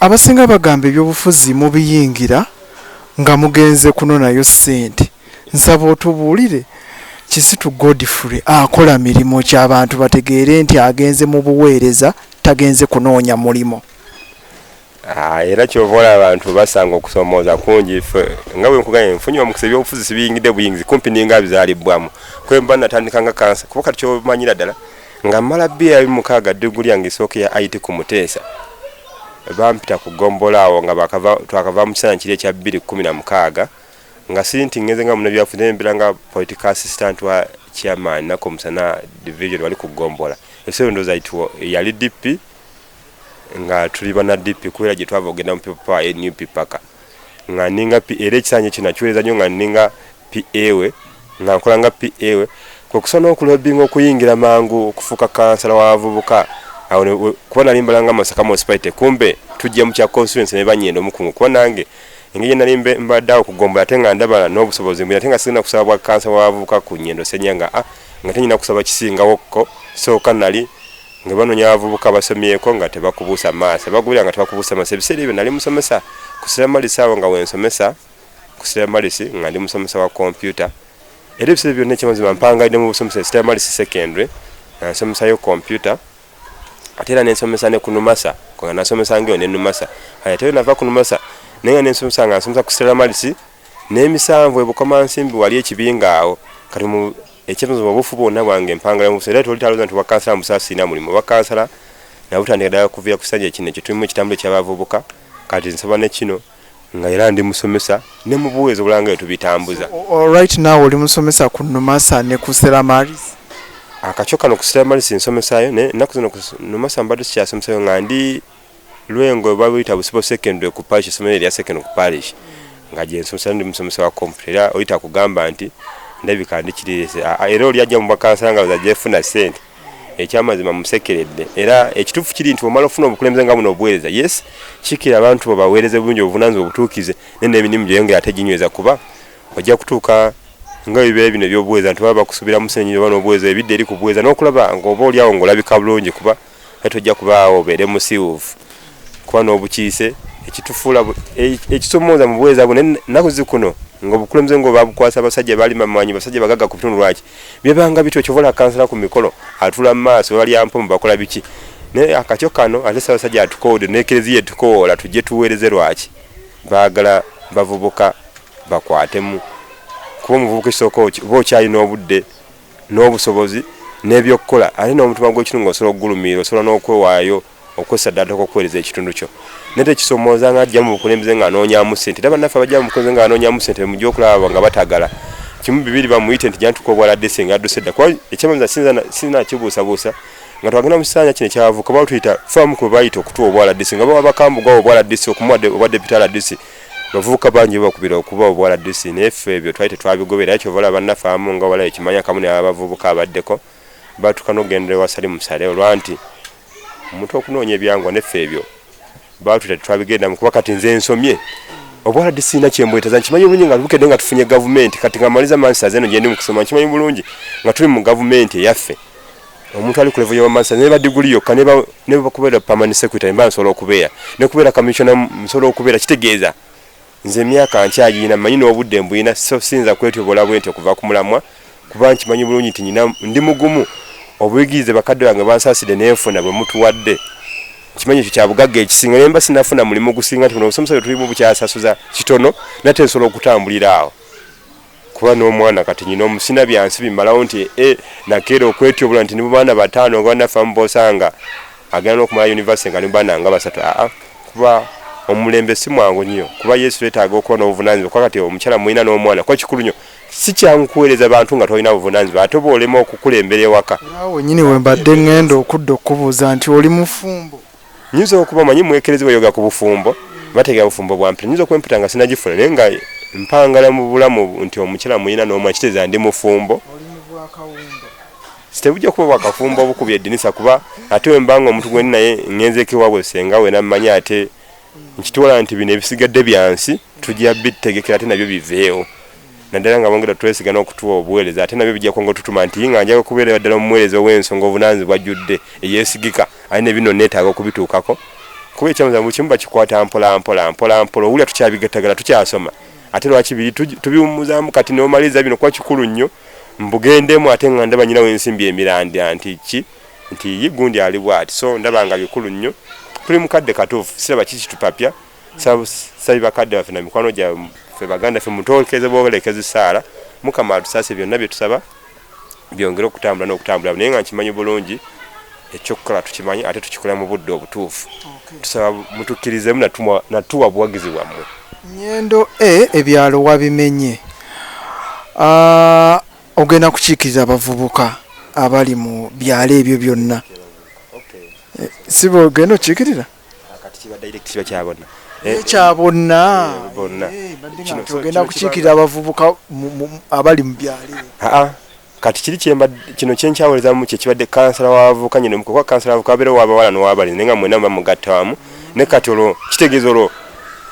Abasinga bagamba ebyobufuzi mubiyingira nga mugenze kunonayo sente nsaba otubulire kizito Godfrey akola mirimo ki abantu bategeere nti agenze mubuweereza tagenze kunoonya mulimo. Haa era kyova olaba abantu basanga okusomooza kungi ffe nga bwenkugambye nfunye omukisa ebyobufuzi sibiyingidde buyingizi kumpi ninga bizalibbwamu kwemba natandika nga kansa kuba kati kyomanyira ddala nga mmala byeya biri mukaaga diguli yange esooka eya IT ku muteesa bampita ku ggombolola awo nga bakava twakava mu kiseera kiri ekya bbiri kkumi na mukaaga nga siri nti ngenze nga munabyafuzi naye mbeera nga political assistant wa chairman nako musana division wali ku ggombolola ebiseera endowooza it yali dp nga tuli bana dp kubeera gye twava okugenda mu people power nup paka nga ninga PA era ekisanja kino nakiweereza nnyo nga ninga PA we nga nkola nga PA we kwe kusa n'okulobinga okuyingira mangu okufuuka kansala w'abavubuka awo kuba nali mbala nga Masaka municipality kumbe tujja mu kya constituency ne banyenda omukungu kuba nange engeri gye nali mbadde awo kugombola ate nga ndaba n'obusobozi mbuli ate nga sirina kusaba bwa kansala w'abavubuka ku nyendo senya nga a ah, nga tenyina kusaba kisingawokko sooka nali nga banonya abavubuka basomyeko nga tebakubuusa maaso bagulira nga tebakubuusa maaso ebiseera ebyo nali musomesa ku siramalisi awo nga wensomesa ku siramalisi nga ndi musomesa wa kompyuta era ebiseera byonna ekyamazima mpangaidde mu busomesa siramalisi secondary nansomesayo kompyuta ate era nensomesa ne ku numasa nga nasomesa ngaeyo ne numasa ate era nava ku numasa naye nga nensomesa nga nsomesa ku siramalisi n'emisanvu ebukomansimbi wali ekibinga awo kati Ekyebuzo mu bufu bwonna bwange mpangala mu busa era tewali talooza nti obwa kansala mu busa sirina mulimu. Obwa kansala nabutandika ddala okuviira ku kisanja kino kye tulimu ekitambula eky'abavubuka kati nsaba ne kino nga era ndi musomesa ne mu buweereza obulala nga bwe tubitambuza. Right now oli musomesa ku Numasa ne ku Stella Maris? Akakyo kano ku Stella Maris nsomesaayo naye ennaku zino ku Numasa mbadde sikyasomesaayo nga ndi Lwengo babuyita Busibo Secondary ku Parish essomero erya secondary ku Parish nga gye nsomesa ndi musomesa wa computer era oli takugamba nti ndabika ndi kirireese era oli ajja mu bakansala nga baza gyefuna ssente ekyamazima musekeredde era ekituufu kiri nti omala ofuna obukulembeze nga buno obuweereza yes kikira abantu bo baweereze bulungi obuvunanyizibwa obutuukize naye n'emirimu gyoyongera ate ginyweza kuba ojja kutuuka nga bibeera bino ebyobuweereza nti baba bakusuubiramu senyiyo oba n'obuweereza ebidde eri ku buweereza n'okulaba ng'oba olyawo ng'olabika bulungi kuba naye tojja kubaawo obeere musiwuufu kuba n'obukiise ekitufuula e, ekisomooza mu buweereza bwo naku zikuno ngaobukulembeze nga obabukwasa abasajja balima manyi basajja bagaga ku bitundu lwaki byebanga bityo kyovola kansala ku mikolo atula mu maaso balya mpomu bakola biki naye akakyo kano ate sabasajja atukoode nekereziya etukoola tujje tuweereze lwaki baagala bavubuka bakwatemu kuba omuvubuka ekisooka oba okyalina obudde n'obusobozi n'ebyokukola ate n'omutima gw'ekitundu nga osobola okugulumiira osobola n'okwewaayo okwesa ddala toka okuweereza ekitundu kyo naye tekisomooza nga ajja mu bukulembeze ng'anoonyamu ssente era bannaffe abajja mu bukulembeze ng'anoonyamu ssente mujja okulaba nga batagala kimu bibiri bamuyite nti jantuka obwaladde senga adduse dda kuba ekyamaza sirina kibuusabuusa nga twagenda mu kisanja kino ekyavuka batuyita famu kwe bayita okutuwa obwaladisi nga baba bakambugwawo obwaladisi okumuwadde obwadde pitala disi bavubuka bangi bakubira okuba obwala dusi naye ffe ebyo twali tetwabigobera kyova olaba bannaffe abamu nga wala ekimanya akamu nebabavubuka abaddeko batuuka n'okugendera ewasali musale olwa nti omuntu okunoonya ebyangwa neffe ebyo batuta tetwabigendamu kuba kati nze nsomye obwala disiina kyembwetaza nkimanyi bulungi nga bukedde nga tufunye gavumenti kati nga maliza mansaza eno gyendi mu kusoma nkimanyi bulungi nga tuli mu gavumenti eyaffe omuntu ali ku level ya master ne ba degree yokka ne ba ne ba kubera permanent secretary mba nsobola okubeera ne kubera commissioner nsobola okubeera kitegeeza nze emyaka nkyagiyina manyi n'obudde mbuyina so siyinza kwetyobola bwenti okuva ku mulamwa kuba nkimanyi bulungi nti nyina ndi mugumu obuyigirize bakadde bange bansaaside nenfuna bwe mutuwadde kimanyi ekyo kyabugagga ekisinga naye mba sinafuna mulimu gusinga nti buno obusomesa bwe tulimu bukyasasuza kitono nate nsobola okutambulira awo kuba n'omwana kati nyina omusina byansi bimalawo nti e nakeera okwetyobola nti nibo baana bataano nga banaffe amu bosanga agenda n'okumala univesity nga nibaana nga basatu aa kuba omulembe si mwangu nnyo kuba yesu twetaaga okuba n'obuvunanyizibwa kuba kati omukyala mulina n'omwana kuba kikulu nnyo si kyangu kuweereza bantu nga tolina buvunanyizibwa ate oba olema okukulembera ewaka awo nyini wembadde ngenda okudda okukubuuza nti oli mufumbo nyinza okuba manyi mwekerezi bayoga ku bufumbo bategera bufumbo bwa mpita nyinza okuba empita nga sinagifuna naye nga mpangala mu bulamu nti omukyala muyina n'omu akiteeza ndi mufumbo tebujja kuba bwakafumbo obukubya eddinisa kuba ate wemba nga omuntu gwendi naye ngenzeko ewabwe senga we nammanyi ate nkitwala nti bino ebisigadde byansi tujja bitegekera ate nabyo biveewo naddala nga bongera twesiga n'okutuwa obuweereza ate nabyo bijja kwonga otutuma nti nga njaga okubeera ddala omuweereza ow'ensonga obunaanzi bwajjudde eyeesigika aye ne bino neetaaga okubituukako kuba ekyamuza buli kimu bakikwata mpola mpola mpola mpola owulira tukyabigatagala tukyasoma ate lwaki biri tubiwummuzaamu kati neomaliza bino kuba kikulu nnyo mbugendemu ate nga ndaba nyinawo ensimbi emirandya nti ki nti ye gundi ali bwati so ndaba nga bikulu nnyo tuli mukadde katuufu siraba kikitupapya sabi bakadde baffe na mikwano gyabwe ffe baganda ffe mutolekeze bwolekeza esaala mukama atusase byonna byetusaba byongere okutambula n'okutambula naye nga nkimanyi bulungi ekyokukola tukimanyi ate tukikola mu budde obutuufu tusaba mutukkirizemu natuwa buwagizi bwammwe nyendo e ebyalo wabimenye ah, ogenda kukiikiriza abavubuka abali mu byalo ebyo byonna eh, si bwogenda okiikirira kati kiba direct kiba kya bonna eh, kya bonna eh, eh, tugenda kukiikirira abavubuka abali mu byalo kati kiri kyemba kino kyenkyawuliza mu kyekibadde kansala wavuka nyine mukuba kansala wavuka abere wabawala nowabali nenga mwena mba mugatta wamu ne kati olwo kitegeeza olwo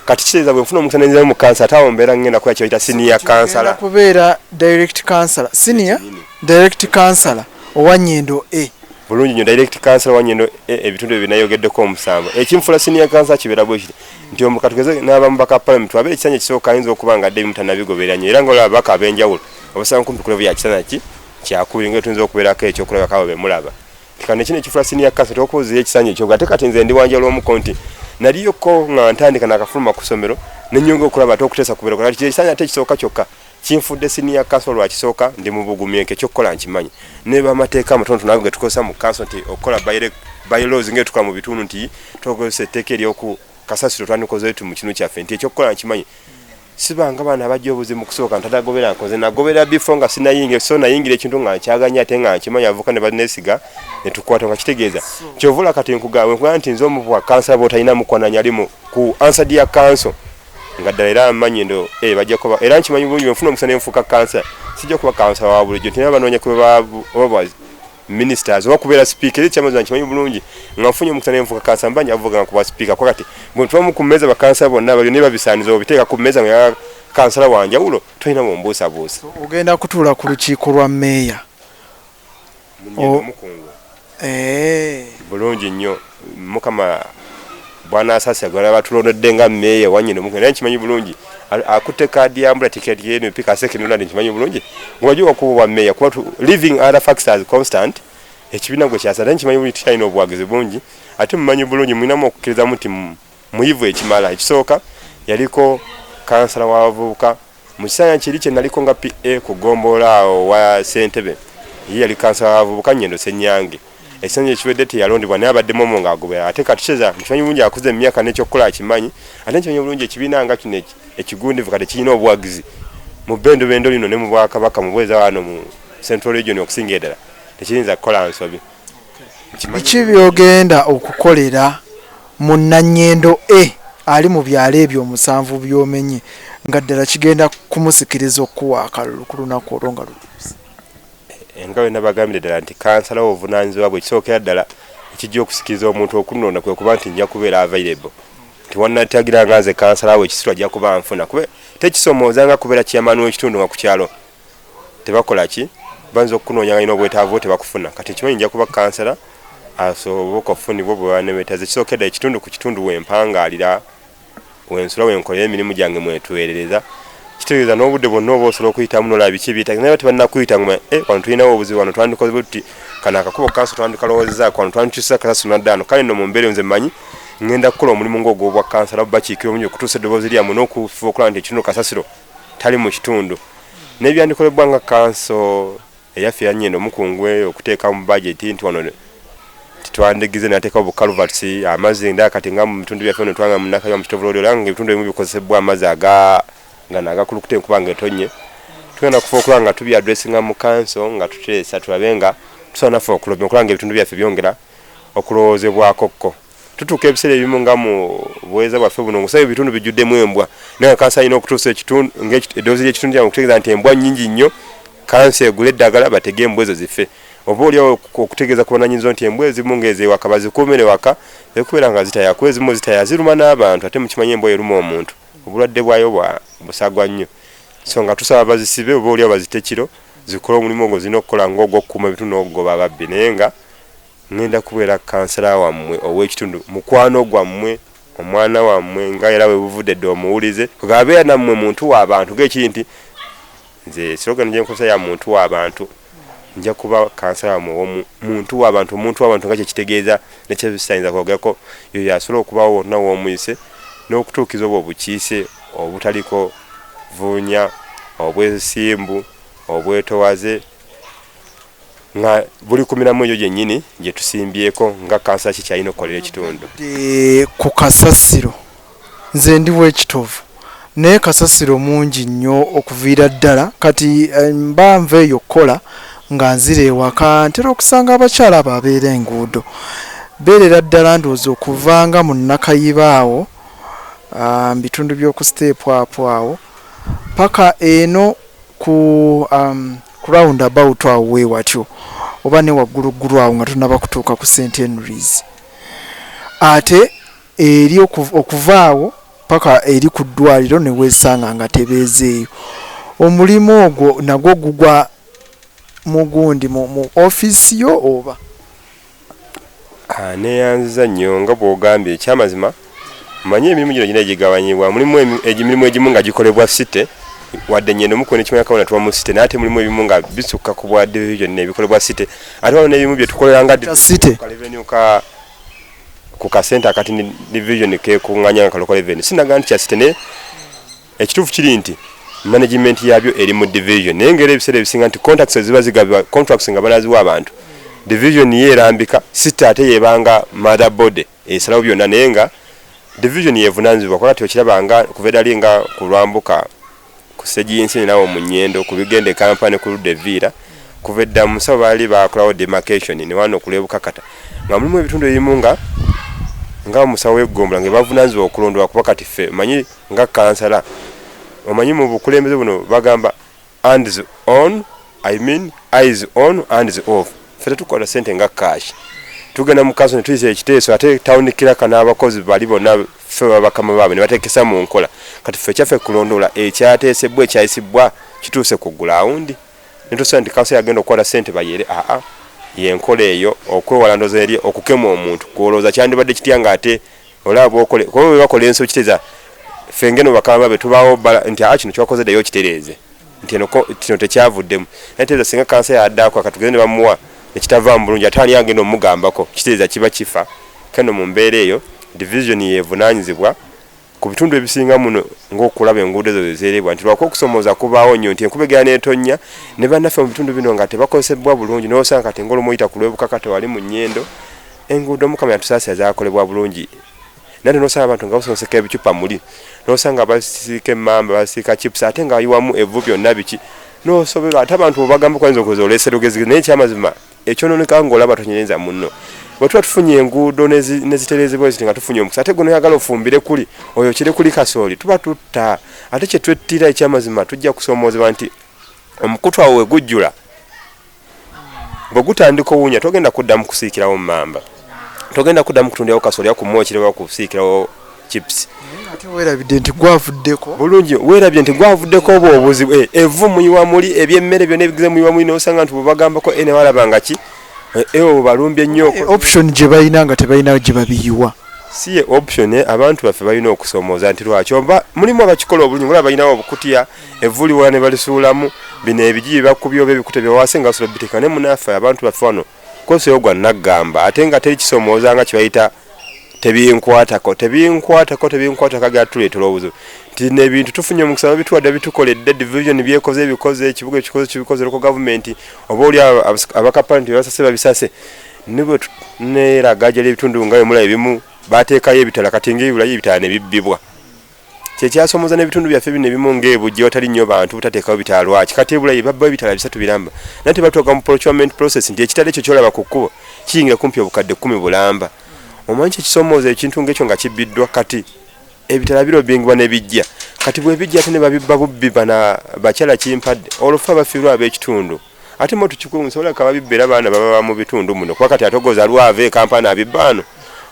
kati kitegeeza bwe nfuna omukisa nenzirayo mu kansala ate awo mbeera ngenda kukola kyebayita senior kansala kubeera direct kansala senior direct kansala owa nyendo a bulungi nyo direct cancer wanye no e, ebitundu e, binayogeddeko omusango ekimfula senior cancer kibera bwe kiti nti omukatugeze n'abamu baka parliament wabere kisanya kisoka ayinza okuba nga dde mutana bigobera nyo era nga olaba baka abenjawulo obasanga kumpi kulevu ya kisanya ki kyakubiri nga etunza okuberako ekyo okulaba kawo bemulaba kano ekino ekifula senior cancer tokuuza ekisanya ekyo ate kati nze ndi wanja lw'omuko nti naliyoko nga ntandika nakafuluma ku kusomero nenyonga okulaba ate okutesa kubera kati ekisanya ate kisoka kyokka kinfudde siniya kanso lwakisooka ndi mu bugumi enke ekyokukola nkimanyi ne bamateeka amatonotono ago getukozesa mu kanso nti okukola bylaws nga etukola mu bitundu nti tokozesa etteeka eryoku kasasiro twandikoze tu mu kinu kyaffe nti ekyokukola nkimanyi sibanga baana abajja obuzi mu kusooka ntadagobera nkoze nagobera bifo nga sinayingira so nayingira ekintu nga nkyaganya ate nga nkimanyi avuka ne banesiga netukwata nga kitegeeza kyovula kati nkugawe nkugaa nti nze omubwa kansa botalina mukwananyalimu ku ansa dia kanso nga ddala era amanyi ndo eh, bajja kuba era nkimanyi bulungi bwenfuna omusa nenfuuka kansa sijja kuba kansa wa bulijjo nti nabanoonya kuba oba ministers oba kubeera sipiika era ekyamazi nkimanyi bulungi nga nfunye omukisa nenfuuka kansa mba njavuga nga kuba sipiika kuba kati bwentubamu ku mmeeza bakansa bonna balyo ne babisaaniza obiteeka ku mmeeza nga kansala wanjawulo tolina bumbuusabuusa ogenda kutuula ku lukiiko lwa meeya Oh. Eh. bulungi nnyo mukama bwanasasira gwala batulondedde nga meeya wanyina omukugu naye nkimanyi bulungi akutte kaadi yambula tiketi yenp kasekinula ndi nkimanyi bulungi ngewajua kuba obwa meeya kuba living other facts as constant ekibiina gwe kyasa naye nkimanyi bulungi tukyalina obuwagizi bungi ate mumanyi bulungi mulinamu okukkirizamu nti muyivu ekimala ekisooka yaliko kansala w'abavubuka Mu kiseera kiri kye naliko nga PA ku ggombolola awo wa Ssentebe ye yali kansala w'abavubuka Nyendo Ssenyange. Ekisanja ekiwedde teyalondebwa naye abadde momo ng'agoberera ate kati Cesar nkimanyi bulungi akuze mu myaka n'ekyokukola akimanyi ate nkimanyi bulungi ekibiina nga kino ekigundivu kati kirina obuwagizi mu bbendobendo lino ne mu Bwakabaka mu bweza wano mu Central Region okusingira ddala tekiyinza kukola nsobi. Biki by'ogenda okukolera mu Nanyendo A ali mu byalo ebyo omusanvu by'omenye nga ddala kigenda kumusikiriza okukuwa akalulu ku lunaku olwo nga lutuuse? Nga bwe nabagambidde ddala nti kansala w'obuvunaanyizibwa bwe, ekisookera ddala ekijja okusikiriza omuntu okunnonda kwe kuba nti nja kubeera available nti wannatagira nga nze kansala we ekisitula ajja kuba anfuna kuba tekisomooza nga kubeera chairman w'ekitundu nga ku kyalo tebakola ki banza okunonya nga ino obwetavu tebakufuna kati kimanyi nja kuba kansala asoboka ofunibwa bwebanebetaze kisokeda ekitundu ku kitundu wempangalira wensula wenkolera emirimu gyange mwetuwerereza kitegeeza n'obudde bwonna oba osobola okuyitamu nolaba biki ebyetagi naye tebannakuyita nguma e eh, wano tulinawo obuzibu wano twandikoze buti kano akakubo kansi twandikalowoozezaako wano twandikyusa kasasuna ddaano kale no mu mbeera nze mmanyi ngenda kukola omulimu ngaogwobwa kansala bakiikira omungi okutuusa eddoboozi lyamu n'okufuba okulaba nti ekitundu kasasiro tali mu kitundu n'ebyandikolebwa nga kanso eyaffe yanyenda omukungu eyo okuteeka mu bajeti nti wano tetwandigize nateekawo bukaluvati amazzi nda kati nga mu bitundu byaffe no twanga munakayo mukitovulodi olanga nga ebitundu ebimu bikozesebwa amazzi aga gano agakulukuta enkuba nga etonye tugenda kufa okulaba nga tubi adressinga mu kanso nga tuteesa tulabe nga tusobola naffe okulobya okulaba nga ebitundu byaffe byongera okulowoozebwakokko tutuuka ebiseera ebimu nga mu buweereza bwaffe buno ngosaba ebitundu bijjuddemu embwa naye kansa alina okutuusa ekitundu ngaedoozi lyekitundu kyamu okutegeeza nti embwa nyingi nnyo kansa egula eddagala batege embwa ezo zife oba oliawo okutegeeza ku bananyinzo nti embwa ezimu ngaezewaka bazikuumire waka ekubeera nga zitaya kuba ezimu zitaya ziruma n'abantu ate mukimanyi embwa eruma omuntu obulwadde bwayo bwa busagwa nnyo so nga tusaba bazisibe oba oliawo bazite kiro zikole omulimu ogwo zirina okukola ngaogwokukuuma ebitundu okugoba ababbi naye nga Ngenda kubeera kkansala wammwe ow'ekitundu, mukwano gwammwe, omwana wammwe nga era we buvudde dda omuwulize. Bw'abeera nammwe muntu wa bantu ng'ekiri nti nze slogan gye nkozesa ya muntu wa bantu, nja kuba kkansala wammwe ow'omu muntu wa bantu. Omuntu wa bantu nga kye kitegeeza ne kye sitayinza kwogerako, y'oyo asobola okubaawo wonna w'omuyise n'okutuukiza obwo obukiise obutaliko vuunya, obwesimbu, obwetowaze, nga buli ku miramu egyo gyennyini gye tusimbyeko nga kansa ki kyalina okukolera ekitundu ku kasasiro nze ndi wekitovu naye kasasiro mungi nnyo okuviira ddala kati eh, mba nva eyo okukola nga nzira ewaka ntera okusanga abakyala abo abeera enguudo beerera ddala ndowooza okuvanga mu nakayiba awo ah, mu bitundu by'oku siteepu apo awo paka eno Ku um, round about awo wewatyo oba ne wagguluggulu awo nga tunaba kutuuka ku st henrys ate eri okuvaawo paka eri ku ddwaliro newesanga nga tebeezeeyo omulimu ogwo nagwo gugwa mugundi mu offiisi yo oba Anneeyanziza nnyo nga bw'ogambye. Ekyamazima mmanyi emirimu gino girina gye gigabanyibwa. Mulimu emirimu egimu nga gikolebwa site, wadde nnyeno mukuno ekimera kabona tuba mu site, naye ate mulimu ebimu nga bisukka ku bwa division byonna ebikolebwa site. Ate waliwo n'ebimu bye tukolera nga division ku kaleveniyu ka, ku kasente akati divizoni k'ekuŋŋaanya nga ka local revenue. Sinnagamba nti kya site naye. Ekituufu kiri nti management yabyo eri mu division naye ngera ebiseera ebisinga nti contacts eziba zigabibwa contracts nga banaziwa abantu division ye erambika sita ate yebanga mother body esalawo byonna naye nga division yevunanyizibwa kuba kati okiraba nga kuva edali nga kulwambuka ku segi yensini nawo mu nyendo ku bigenda e kampani ku ludda eviira kuva edda mu musawo baali bakolawo demarcation ne wano kulwebukakata nga mulimu ebitundu ebimu nga nga musawo weggombolola nga bavunanyizibwa okulondoola kuba kati ffe manyi nga kansala omanyi mu bukulembeze buno bagamba ands on i mean is on ands off fe tetukola sente nga cash tugenda mu kaso netuyisa ekiteeso ate tawuni kiraka n'abakozi bali bonna fe babakama baabwe ne bateekesa mu nkola kati fe kyaffe kulondoola ekyateesebbwa ekyayisibbwa kituuse ku gulawundi netusobola nti kaso yagenda okukola sente bayere aa yenkola eyo okwewala ndoza eri okukema omuntu kwolowooza kyandibadde kitya nga ate olaba bwokole kuba bwe bakola ensobi kiteza ffe ngeno bakama be tubaawo bala nti a ah, kino kyakoze ddayo okitereeze nti eno kino tekyavuddemu naye teeza singa kansa yadaako akatugeze ne bamuwa nekitavaamu bulungi ate ani agenda omugambako kiteeza kiba kifa keno mu mbeera eyo division yevunaanyizibwa ku bitundu ebisinga muno ngaokulaba enguudo ezo zezerebwa nti lwaki okusomooza kubaawo nnyo nti enkuba egera netonnya ne bannaffe mu bitundu bino nga tebakozesebwa bulungi nosanga kati ngaolumuyita ku lwebukaka tewali mu nyendo Enguudo mukama yatusaasira zakolebwa bulungi naye nosanga abantu nga basonseka ebicupa muli nosanga basiika emmamba basiika chips ate nga ayiwamu evvu byonna biki nosoberwa ate abantu obagamba kwanza okoza oleese lugezi naye ekyamazima ekyononeka ngaolaba tonyerenza munno bwe tuba tufunye enguudo neziterezebwa eziti nga tufunye omukisa ate gwena oyagala ofumbire kuli oyo kire kuli kasooli tuba tutta ate kyetwettira ekyamazima tujja kusoomoozebwa nti omukutu awo wegujjula bwe gutandika owunya togenda kuddamu kusiikirawo mumamba togenda kuddamu kutundirawo kasolya ku mwokire wa kusiikirawo chips werabidde nti gwavuddeko bulungi werabye nti gwavuddeko obwo obuzibu eh, evu muyiwa muli ebyemmere byona ebigize muyiwa muli nosanga nti bwebagambako ene eh, walabanga ki eh, ewo balumbye nnyo option gye balina nga tebalina gye babiyiwa si ye option abantu baffe balina okusomooza nti lwaki oba mulimu abakikola obulungi olaba balinawo obukutya evvu liwola ne balisuulamu bino ebigi bye bakubye oba ebikuta bye bawaase nga basobola biteeka ne munaafa abantu baffe wano kosewo gwa naggamba ate nga teri kisomooza nga kibayita tebinkwatako tebinkwatako tebinkwatako agala tuleetera obuzibu nti nebintu tufunye omukisa babituwadde bitukoledde division byekoze ebikoze ekibuga ekikoze kibikoze loko gavumenti oba oli abakapani nti basase babisase nibwe neraga ajali ebitundu nga bemula ebimu bateekayo ebitala kati ngaebulayo ebitala nebibbibwa kyekyasomoza nebitundu byaffe bino ebimu ngebu gyewatali nnyo bantu butateekawo bitaala lwaki kati ebula ye babbayo ebitaala bisatu biramba naye tebatuuka mu procurement process nti ekitala ekyo kyolaba ku kkubo kiyingira kumpi obukadde kkumi bulamba omanyi kyekisomooza ekintu ngaekyo nga kibbiddwa kati ebitala birobingibwa nebijja kati bwebijja ate nebabibba bubbi bana bakyala kimpadde olwofe abafiirwa ab'ekitundu ate mo tukikwe nsobola kaba bibbera baana baba mu bitundu muno kuba kati atogoza lwava ekampani abibbaano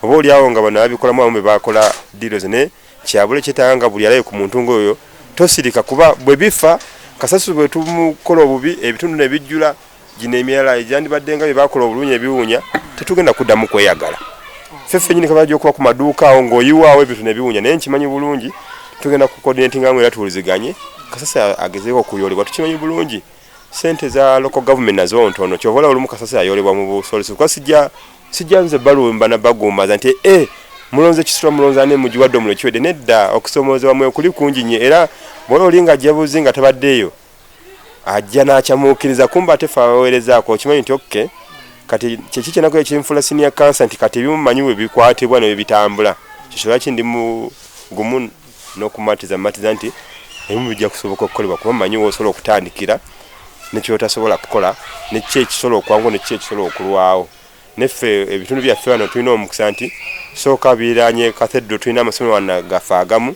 oba oli awo nga bano abikolamu abamu bebakola deals ne kyabule kyetaaga nga buli alaye ku muntu ngaoyo tosirika kuba bwe bifa kasasiro bwe tumukola obubi ebitundu ne bijjula gino emirala egyandibadde nga bye bakola obulunyi ebiwunya tetugenda kuddamu kweyagala feffe nyini kabaja okuba ku maduuka awo ng'oyiwaawo ebintu ne biwunya naye nkimanyi bulungi tugenda ku coordinatinga mu era tuwuliziganye kasasiro agezeeko okuyolebwa tukimanyi bulungi sente za local government nazo ntono kyova olaba olumu kasasiro ayolebwa mu busolesi kuba sijja sijja nze balumba na bagumaza nti e mulonze kisula mulonze ani mugiwadde omulo kiwedde nedda okusoomoozebwa mwe kuli kungi nnyo era bwola oli nga jabuzi nga tabaddeeyo ajja n'akyamuukiriza kumba ate fe abaweerezaako okimanyi nti okke kati kyeki kyenako ekinfula sinia kansa nti kati ebimu manyi we bikwatibwa ne bye bitambula kyosolwaki ndi mu gumu n'okumatiza matiza nti ebimu bijja kusoboka okukolebwa kuba manyi wosobola okutandikira nekyotasobola kukola nekiki ekisobola okwangu nekiki ekisobola okulwawo neffe ebitundu byaffe wano tulina omukisa nti sooka biranye kathedro tulina amasomero wana gaffe agamu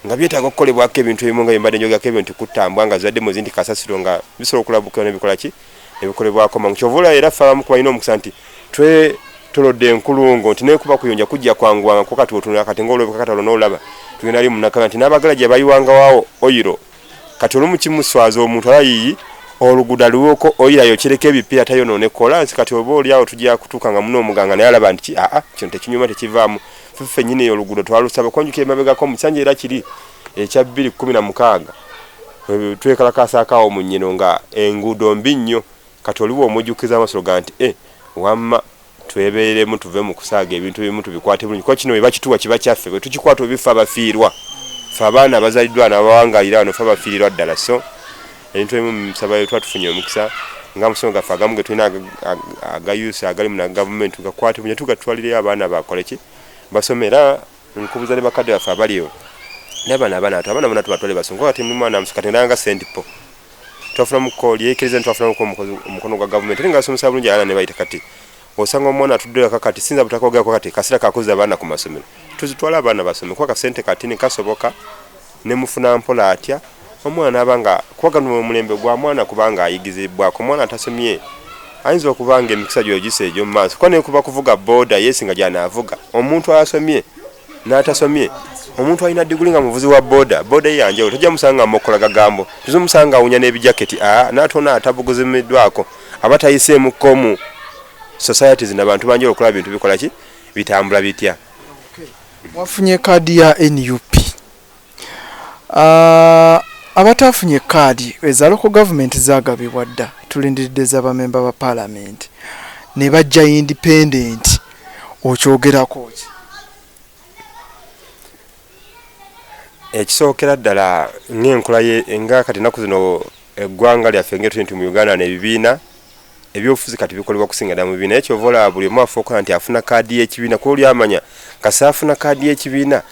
nga byetaaga okukolebwako ebintu ebimu nga byembadde njogako ebyo nti kutambwa nga zibadde muzi nti kasasiro nga bisobola okulabukira nebikolaki ebikolebwako mangu kyova olaba era ffe abamu kubalina omukisa nti twetolodde enkulungo nti nekuba kuyonja kujja kwanguwanga kuba kati otunula kati ngaolabika kati olona olaba tugenda li munakabya nti n'abagala gye bayiwangawawo oyiro kati olumu kimuswaza omuntu aba yiyi oluguudo aliwoko oyira yokyereko ebipiira tayonoone kolansi kati oba oli awo tujja kutuuka nga muna omuganga naye alaba nti aa kino tekinyuma tekivaamu feffe nyini eyo oluguudo twalusaba konjuka emabegako omusanja era kiri ekya bbiri kkumi na mukaaga twekalakaasaako awo mu nnyino nga enguudo mbi nnyo kati oliwo omujjukiza amasiro ga nti e wamma twebeeremu tuve mu kusaaga ebintu ebimu tubikwate bulungi kuba kino webakituwa kiba kyaffe bwe tukikwata obifa abafiirwa fe abaana abazaliddwa nabawangalira wano fe abafiirirwa ddala so ebintu ebimu musabayo tuba tufunye omukisa nga musomo gaffe agamu ge tulina agayusa agali mu gavumenti tugakwate bunya tugatwalireyo abaana bakoleki basomera nkubuza ne bakade bafe abaliyo nabana abana atu abana bona tubatwale basungu kati muli mwana msuka tendanga sent po twafuna mukoli ekirize ntwafuna muko mukozi mukono gwa government linga so musabu nje ala ne bayita kati osanga omwana atudde kaka kati sinza butakoga kwa kati kasira kakuza abana ku masomero tuzitwala abana basome kwa kasente kati ne kasoboka Nemufuna mpola atya omwana naba nga kuba gano omulembe gwa mwana kuba nga ayigizibwako omwana atasomye ayinza okuba nga emikisa gyo ogisa egyo mumaaso kuba nekuba kuvuga boda yesi nga gyanavuga omuntu asomye natasomye omuntu alina diguli nga muvuzi wa boda boda ye yanjawulo tojja musanga amokola gagambo tuze musanga awunya n'ebijaketi a natona atabuguzimiddwako aba tayiseemu komu societies nabantu banjawulo okulaba bintu bikolaki bitambula bitya. Wafunye kaadi ya nup? Abataafunye kaadi eza loko gavumenti zagabibwa dda, tulindiridde za bamemba ba palamenti ne bajja indipendenti. Okyogerako ki? Ekisookera ddala ng'enkula nga kati ennaku zino eggwanga lyaffe ng'etuye nti mu Uganda n'ebibiina ebyobufuzi kati bikolebwa kusinga dda mu bibiina naye kyova olaba buli omu afa okola nti afuna kaadi y'ekibiina kuba oli amanya kasi afuna kaadi y'ekibiina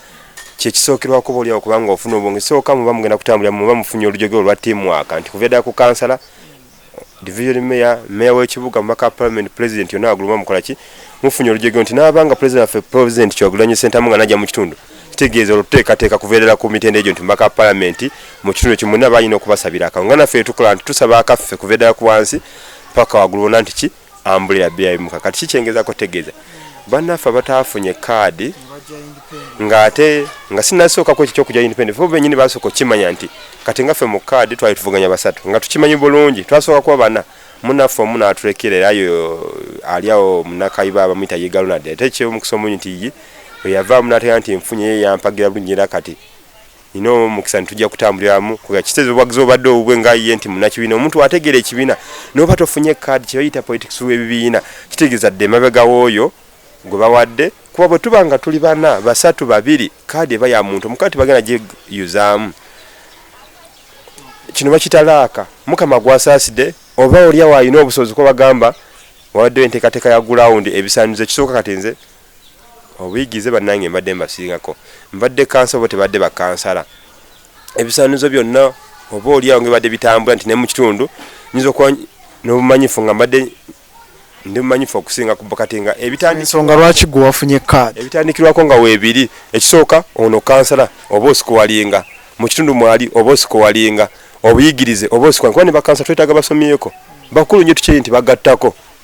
kyekisookerwako oba oliawo kubanga ofuna obwonge sooka muba mugenda kutambulira muba mufunye olujogeo olwa tiimwaka nti kuva ddala ku kansala division mayor mayor w'ekibuga mumaka parliament president yonna wagulu muba mukola ki mufunye olujogeo nti naabanga president waffe president kyogulanyi sentamu nga najja mu kitundu kitegeeza oluteekateeka kuveerera ku mitendera egyo nti mubaka wa palamenti mu kitundu ekyo mwonna balina okubasabira akalulu nga naffe tukola nti tusaba akaffe kuveerera ku wansi paka waggulu bona nti ki ambulira biyayimuka kati kikyengezako tegeeza bannaffe abataafunye kaadi ng'ate nga sinasookaku ekyo kyokujja independent fo benyini basooka okukimanya nti kati nga ffe mu kaadi twali tuvuganya basatu nga tukimanyi bulungi twasooka kuba bana munaffe omu n'atulekera era yo ali awo munakayiba abamuyita ye galonad ate ekyomukisa omunyi nti bwe yavaamu n'ategeera nti enfunye ye yampagira bulungi era kati nina omukisa nti tujja kutambuliramu kuba kitezo obwagizi obadde obubwe nga ye nti munakibiina omuntu ategeera ekibiina n'oba tofunye kaadi kye bayita politics w'ebibiina kitegeeza dde emabega w'oyo gwe bawadde kuba bwe tuba nga tuli bana basatu babiri kaadi eba ya muntu omu kati bagenda gyeyuzaamu kino bakitalaaka mukama gwasaasidde oba olyawo alina obusobozi kuba bagamba wawaddewo enteekateeka ya gulawundi ebisaanizo ekisooka kati nze Obuyigize banange mbadde mbasingako mbadde kansala oba tebadde bakansala ebisanizo byonna oba olyawo ngebadde bitambula nti nemukitundu nyinza okuba nobumanyifu nga mbadde ndi mumanyifu okusinga kati nga ebitandisonga lwaki gwe wafunye kaadi ebitandikirwako nga webiri ekisooka ono kansala oba osikuwalinga mu kitundu mwali oba osikuwalinga obuyigirize oba osikuwalinga kuba ne bakansala twetaaga basomyeko bakulu nnyo tukimanyi nti bagattako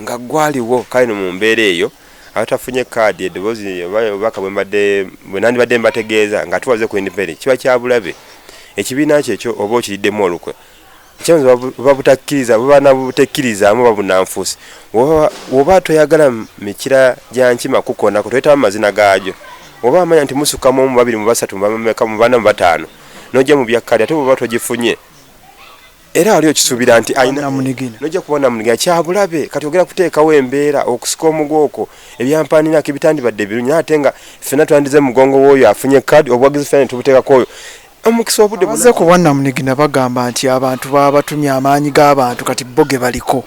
Nga ggwaliwo, kale no mu mbeera eyo abatafunye kkaadi eddoboozi oba obubaka bwe mbadde bwe nandibadde mbategeeza ng'ate waze ku Independent kiba kya bulabe ekibiina kyo ekyo oba okiriddemu olukwe ekyanza buba butakkiriza buba na butekkirizaamu oba bunanfuusi woba toyagala mikira gya nkima kukonako toyitamu mazina gaagyo oba amanya nti musukamu omu babiri mu basatu mubameka mu bana mu bataano n'ojja mu bya kkaadi ate bwoba togifunye era wali okisuubira nti nojja kuba namunigina kyabulabe kati ogera kuteekawo embeera okusika omugooko ebyampaninako ebitandibadde ebirungi naye ate nga ffena twandize mugongo wooyo afunye kadi obuwagizi fena netubuteekako oyo omukisa obudde buze ku bwannamunigina bagamba nti abantu baba batumye amaanyi g'abantu kati bo ge baliko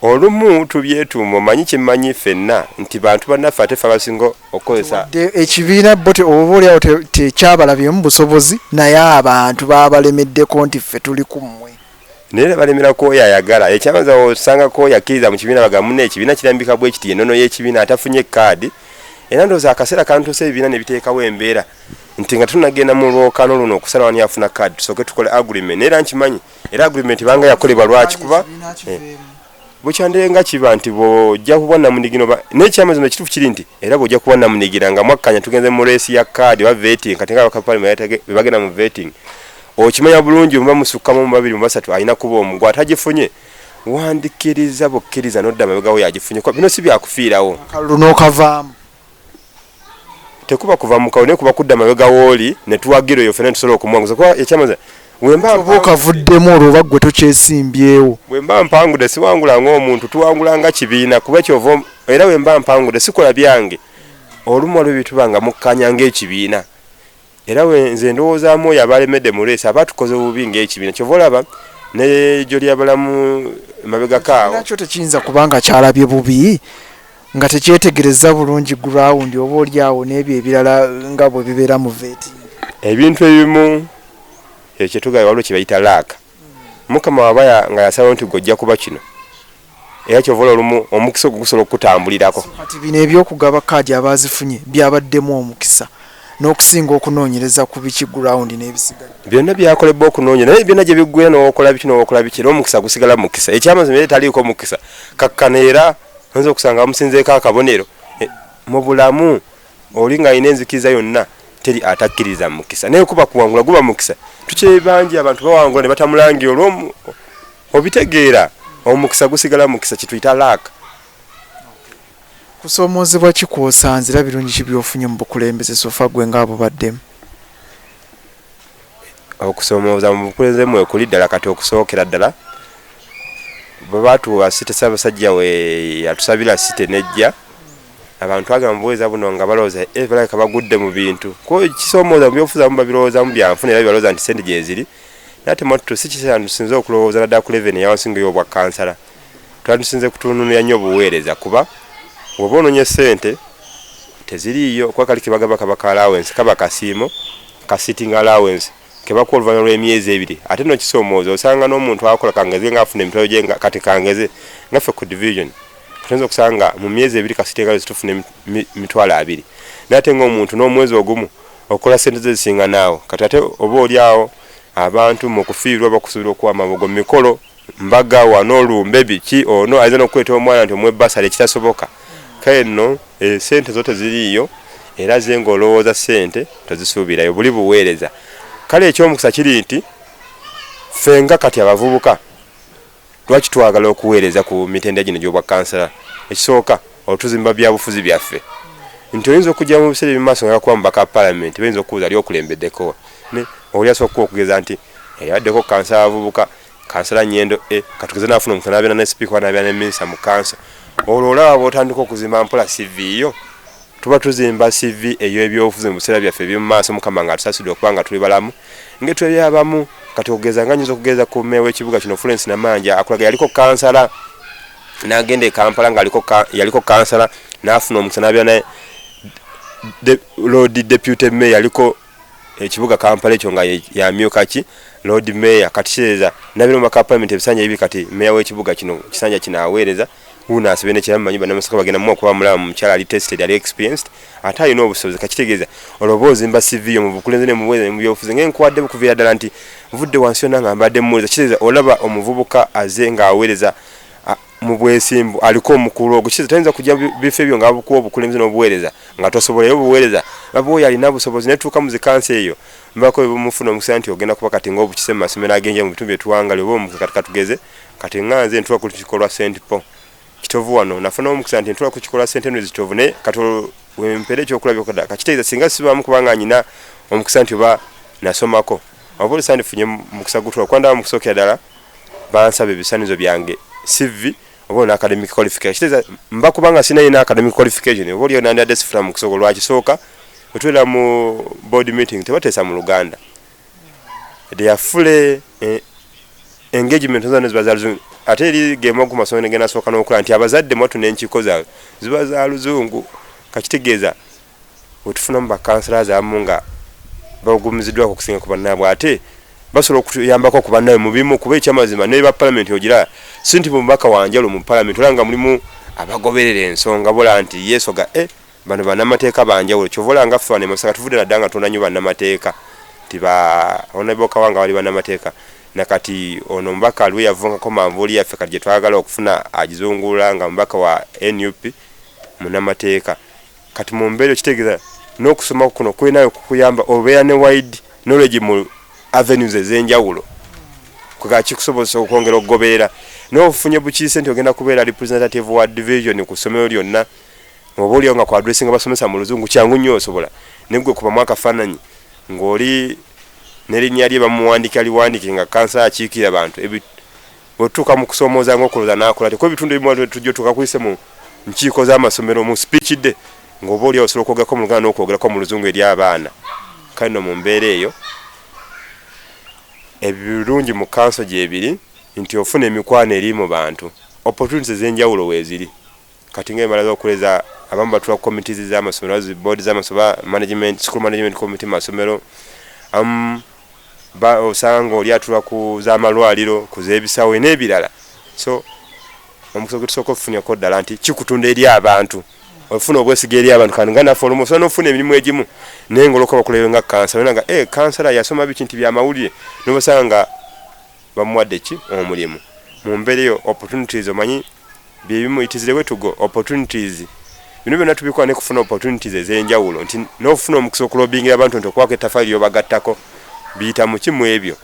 Olumu tubyetuuma omanyi kyemmanyi ffenna nti bantu bannaffe ate ffe abasinga okukozesa. Wadde ekibiina bbo oba oli awo tekyabalabyemu busobozi naye abantu babalemeddeko nti ffe tuli ku mmwe. Naye era balemera ku oyo ayagala. Ekyamazima bw'osanga ku oyo akkiriza mu kibiina bagamba munno ekibiina kirambika bwe kiti y'ennono y'ekibiina atafunye kkaadi era ndowooza akaseera kantuuse ebibiina ne biteekawo embeera nti nga tunnagenda mu lwokaano luno okusalawo ani afuna kkaadi tusooke tukole agreement naye era nkimanyi era agreement banga yakolebwa lwaki kuba eh, bukyandeye nga kiba nti bwojja kuba namunigino nekyamazima ekitufu kiri nti era bwojja kuba namunigira nga mwakkanya tugenze mu resi ya kaadi oba vetting kati nga bakapalima bebagenda mu vetting okimanya bulungi omuba musukkamu mu babiri mu basatu alina kuba omu gwe atagifunye wandikiriza bukkiriza nodda mabegawo yagifunye bino si byakufiirawo akalulu n'okavaamu tekuba kuva mukawo naye kuba kudda mabega wooli netuwagira oyo fena tusobola okumuwanguza kuba ekyamaza wembaoba okavuddemu olwo oba ggwe tokyesimbyewo wemba mpangude siwangula ngaomuntu tuwangula nga kibiina kuba kyova era wemba mpangude sikola byange olumu waliwo byetuba nga mukkanya ngaekibiina Era we nze ndowoozaamu oyo aba alemedde mu leesi aba atukoze bubi ng'ekibiina. Kyova olaba ne Joliyabalamu emabegako awo. Ekibiina kyo tekiyinza kuba nga kyalabye bubi nga tekyetegerezza bulungi gulawundi oba oli awo n'ebyo ebirala nga bwe bibeera mu veeti. Ebintu ebimu ekyo kye tugamba waliwo kye bayita laaka. mukama waba nga yasalawo nti gojja kuba kino era kyova ola olumu omukisa ogwo gusobola okukutambulirako kati bino ebyokugaba kaadi abazifunye byabaddemu omukisa n'okusinga okunoonyereza ku biki gurawundi n'ebisigadde byonna byakolebwa okunoonya naye byonna gye biggwe n'okola biki n'okola biki era omukisa gusigala mu mukisa ekyamazima era etaliiko mukisa kakkana era oyinza okusanga bamusinzeeko akabonero e, mu bulamu Oli nga alina enzikiriza yonna teri atakkiriza mukisa naye kuba kuwangula guba mukisa tukyebangi abantu bawangula ne batamulangi olwomu obitegeera omukisa gusigala mukisa kituyita laaka kusoomoozebwa kikwosanze era birungi ki byofunye mu bukulembeze sofa gwe ngaabo baddemu okusoomooza mu bukulembeze mwe kuli ddala kati okusookera ddala bwe batuwa site sabasajja we yatusabira site nejja abantu twagamba mubuweereza buno nga balowooza eh, balabika bagudde mu bintu kuba ekisomooza mu byobufuzi abamu babirowoozamu byanfuna era balowooza nti sente gyeziri nate mwattu si kiseera ntusinze okulowooza naddala ku leveni eyawansinga ey'obwa kansala twandisinze kutununira nnyo obuweereza kuba woba ononye sente teziriiyo kuba kali kebagamba kaba ka allowance kaba kasiimo ka sitting allowance kebakuwa oluvanyuma lw'emyezi ebiri ate no kisoomooza osanga n'omuntu akola kangeze nga afuna emitwalo gye kati kangeze nga ffe ku division katinza okusanga mu myezi ebiri kasite nga zitufuna emitwalo abiri naye ate ng'omuntu n'omwezi ogumu okola sente ze zisinga naawo kati ate oba oli awo abantu mu kufiirwa bakusuubira okuwa amabugo mu mikolo mbaga wano olumbe biki ono ayinza nokukweta omwana nti omuwe basale ekitasoboka kale nno esente eh, zo teziriiyo era ze nga olowooza sente tozisuubirayo buli buweereza kale ekyomukisa kiri nti ffe nga kati abavubuka lwaki twagala okuweereza ku mitendera gino gyobwakansala ekisooka otuzimba byabufuzi byaffe nti oyinza okujja mu biseera ebimaaso nga yakuba mubaka palamenti bayinza okubuuza ali okulembeddeko oli asooka okugeza nti eyaddeko kansala abavubuka Kansala Nyendo A katugeze nafuna omuntu n'abeera ne sipiika oba n'abeera ne minisita mu kanso, olwo olaba bw'otandika okuzimba mpola CV yo. Tuba tuzimba CV ey'ebyobufuzi mu biseera byaffe eby'omu maaso Mukama ng'atusasudde okuba nga tuli balamu ng'etwebya abamu. Kati okugeza nga nnyinza okugeza ku mmeeya w'ekibuga kino Florence Namanja akulaga yaliko kansala n'agenda e Kampala nga yaliko kansala n'afuna omukisa n'abeera ne Lord Deputy Mayor yaliko ekibuga Kampala ekyo nga yamyuka ki Lord Mayor kati kireza nabino maka parliament ebisanja ebi kati Mayor w'ekibuga kino kisanja kino aweereza wuuno asibe ne kiramu manyi banamasaka bagenda mu okuba mulamu mukyala ali tested ali experienced ate alina obusobozi kakitegeeza olwoba ozimba CV yo mu bukulembeze ne mubuweereza ne mu byobufuzi nga enkuwadde bukuviira ddala nti vudde wansi yonna nga mbadde mmuwuliriza kitegeeza olaba omuvubuka aze ng'aweereza mu bwesimbu aliko omukulu ogwo kize tayinza kujja bifo ebyo nga bakuwa obukulembeze n'obuweereza nga tosobolayo obuweereza baba oyo alina busobozi netuuka mu zikansi eyo mbako bemufuna omusa nti ogenda kuba kati nga obukise mu masomero agenja mu bitundu byetuwangali oba omukisa kati katugeze kati nga nze ntuwa ku kikolwa st paul kitovu wano nafuna omukisa nti ntuwa ku kikolwa st henry kitovu naye kati wempera ekyokulabyokoda kakitegeeza singa sibaamu kubanga nyina omukisa nti oba nasomako wabula sandifunye mukisa gutula kuba ndaba mukusookera ddala bansaba ebisaanizo byange cv oba olina academic qualification kiteeza mba kubanga sinayo na academic qualification oba oliyo nandiyadde sifuna mu kusooka lwakisooka otubeera mu board meeting tebateesa mu luganda deyafule eh, engagement zona ziba zaluzungu ate eri gema ku masomero gena sooka n'okola nti abazadde mwatu n'enkiko zaabwe ziba za luzungu kakitegeeza wetufunamu ba councillors abamu nga bagumizidwa ku kusinga ku bannaabwe ate basobola okuyambako ku bannaabwe mu bimu kuba ekyamazima ne ba parliament ogira si nti mubaka wanjalo mu parliament olaba nga mulimu abagoberera ensonga bola nti yesoga e eh, bano banamateeka banjawulo kyovola nga ffe wanemasaka tuvudde nadda nga tunda nyo banamateeka ti ba onabokawa nga bali banamateeka nakati ono omubaka aliwo yavungako manvuuli yaffe kati gyetwagala okufuna agizungula nga mubaka wa nup munamateeka kati mu mbeera okitegeeza n'okusoma kuno kulina okukuyamba obeera ne wide knowledge mu avenues ez'enjawulo kwega kikusobozesa okwongera okugoberera n'ofunye bukiise nti ogenda kubeera representative wa division ku ssomero lyonna oba olio nga kuadressinga basomesa mu luzungu kyangu nnyo osobola negwe kubamu akafaananyi ng'oli nerinnya lye bamuwandika liwandike nga kansa akiikira bantu Wetutuuka mu kusoomooza nga okulooza n'akola atya kuba ebitundu ebimu waliwo tujja otuuka kuyise mu nkiiko z'amasomero mu speech day ng'oba oli osobola okwogerako mu Luganda n'okwogerako mu Luzungu eri abaana kale no mu mbeera eyo ebirungi mu kanso gyebiri nti ofuna emikwano eri mu bantu opportunities ez'enjawulo weeziri Kati nga emala zokuleza abamu batula ku committees z'amasomero as board z'amasoba management school management committee mu masomero amu ba osanga ng'oli atula ku z'amalwaliro ku z'ebisawe n'ebirala so omukisa gwe tusooka okufunirako ddala nti kikutunda eri abantu ofuna obwesiga eri abantu kandi nga naffe olumu osobola n'ofuna emirimu egimu naye ng'olwokuba bakuleewe nga kansala olina nga e eh, kansala yasoma biki nti byamawulire n'obasanga nga Bamuwadde ki omulimu mumbera eyo opportunities omanyi byebimu it is the way to go opportunities bino byona tubikola nekufuna opportunities ezenjawulo nti nofuna omukisa okulobingira abantu nti okwako etafali lyobagattako biyita muki mwebyo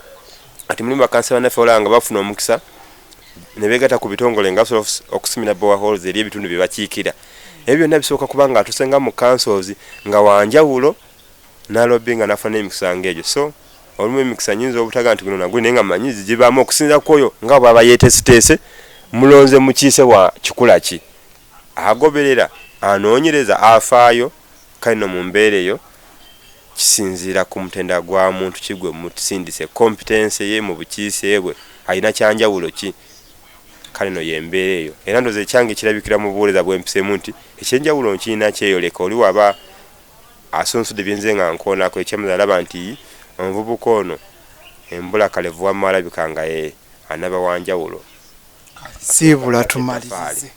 ati mulimu bakansela naffe olanga bafuna omukisa nebegata ku bitongole nga basobola okusimira bowa halls eri ebitundu byebakiikira ebyo byonna bisoboka kubanga atusenga mu councils nga wanjawulo nalobinga nafuna emikisa ngaegyo so olumu emikisa nyinza obutaga nti guno naguli naye nga manyi zigibaamu okusinza kwoyo nga bwaba yeteeseteese mulonze mukiise wa kikula ki agoberera anoonyereza afaayo kale no mu mbeera eyo kisinziira ku mutenda gwa muntu ki gwe musindise kompitense ye mu bukiise bwe alina kyanjawulo ki kale no y'embeera eyo era ndoza ekyange kirabikira mu buweereza bwempiseemu nti ekyenjawulo nkirina kyeyoleka oli waba asunsudde bye nze nga nkoonako ekyamazima nalaba nti omuvubuka ono embula kalevu wamma alabika nga ye anaba wanjawulo siibula tumalirize.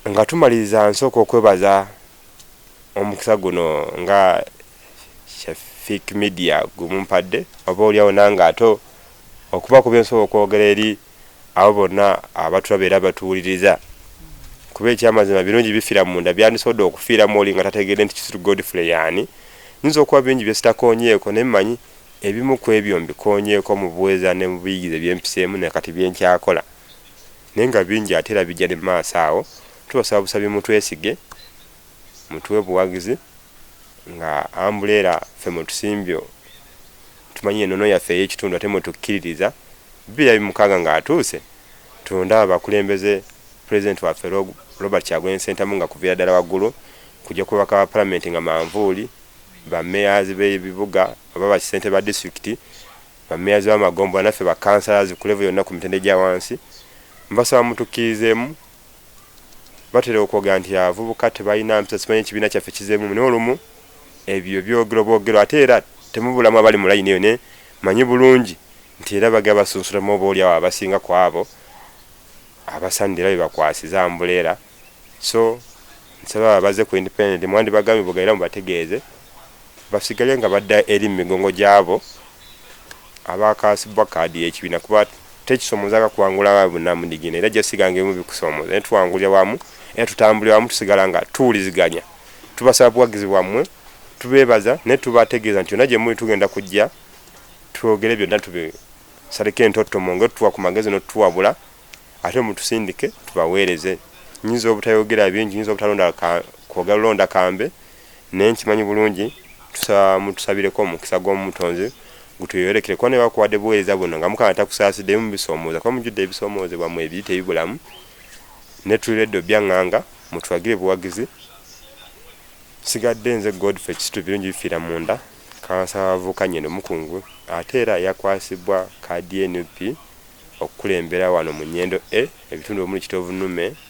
Nga tumaliriza nsooka okwebaza omukisa guno nga Shafiq Media gwe mumpadde oba olyawo nange ate okubaako bye nsobola okwogera eri abo bonna abatulaba era batuwuliriza kuba ekyamazima birungi bifira munda byandisobodde okufiiramu oli nga tategedde nti kisiru godfrey yaani nyinza okuba bingi byesitakonyeeko naye manyi ebimu ku ebyo mbikonyeeko mu buweza ne mu buyigize byempiseemu ne kati byenkyakola naye nga bingi ate era bijja ne maaso awo tubasaba busabi mutwesige mutuwe buwagizi nga ambuleera ffe mwetusimbye tumanyi enono yaffe eyekitundu ate mwetukiririza bibiri abiri mukaaga nga atuuse tundaba bakulembeze president waffe Robert Kyagulanyi Sentamu nga kuvira ddala waggulu kujja kubaka ba palamenti nga manvuuli bameyazi b'ebibuga oba bakisente ba disitulikiti bameyazi b'amagombo naffe bakansalazi ku levo yonna ku mitende gya wansi mbasaba mutukkirizeemu batera okwogera nti abavubuka tebalina mpisa simanyi ekibiina kyaffe kizeemu naye olumu ebyo byogero bwogero ate era temubulamu abali mu layini eyo ne manyi bulungi nti era bagera basunsulamu oba oli awo abasinga ku abo abasanidde era bebakwasiza ambuleera so nsaba babaze ku independent mwandibagambye bwogera era mubategeeze basigale nga badda eri mu migongo gyabo Abaakaasibwa kaadi y'ekibiina kuba tekisoomoozaako kuwangula abaabwe bonna mu digini era gyasiga ng'ebimu bikusoomoza naye tuwangulira wamu era tutambulira wamu tusigala nga tuwuliziganya. Tubasaba buwagizi bwammwe, tubeebaza naye tubategeeza nti yonna gye muli tugenda kujja twogere byonna tubisaleko entottomo ng'otuwa ku magezi n'otutuwabula ate mutusindike tubaweereze. Nnyinza obutayogera bingi, nnyinza obutalonda kwogera lulonda kambe. Naye nkimanyi bulungi tusaba mutusabireko omukisa gw'omutonzi gutuyolekere kuba nebakuwadde buweereza buno nga mukama takusaasidde mubisomooza kuba mujjudde ebisomooze bwamwe ebiyita ebibulamu ne tuli reddo byanganga mutulagire buwagizi sigadde nze Godfrey Kisitu birungi bifiira munda kansala abavubuka nyendo mukungu ate era yakwasibwa kaadi NUP okukulembera wano mu nyendo e ebitundu omuli kitoovu nume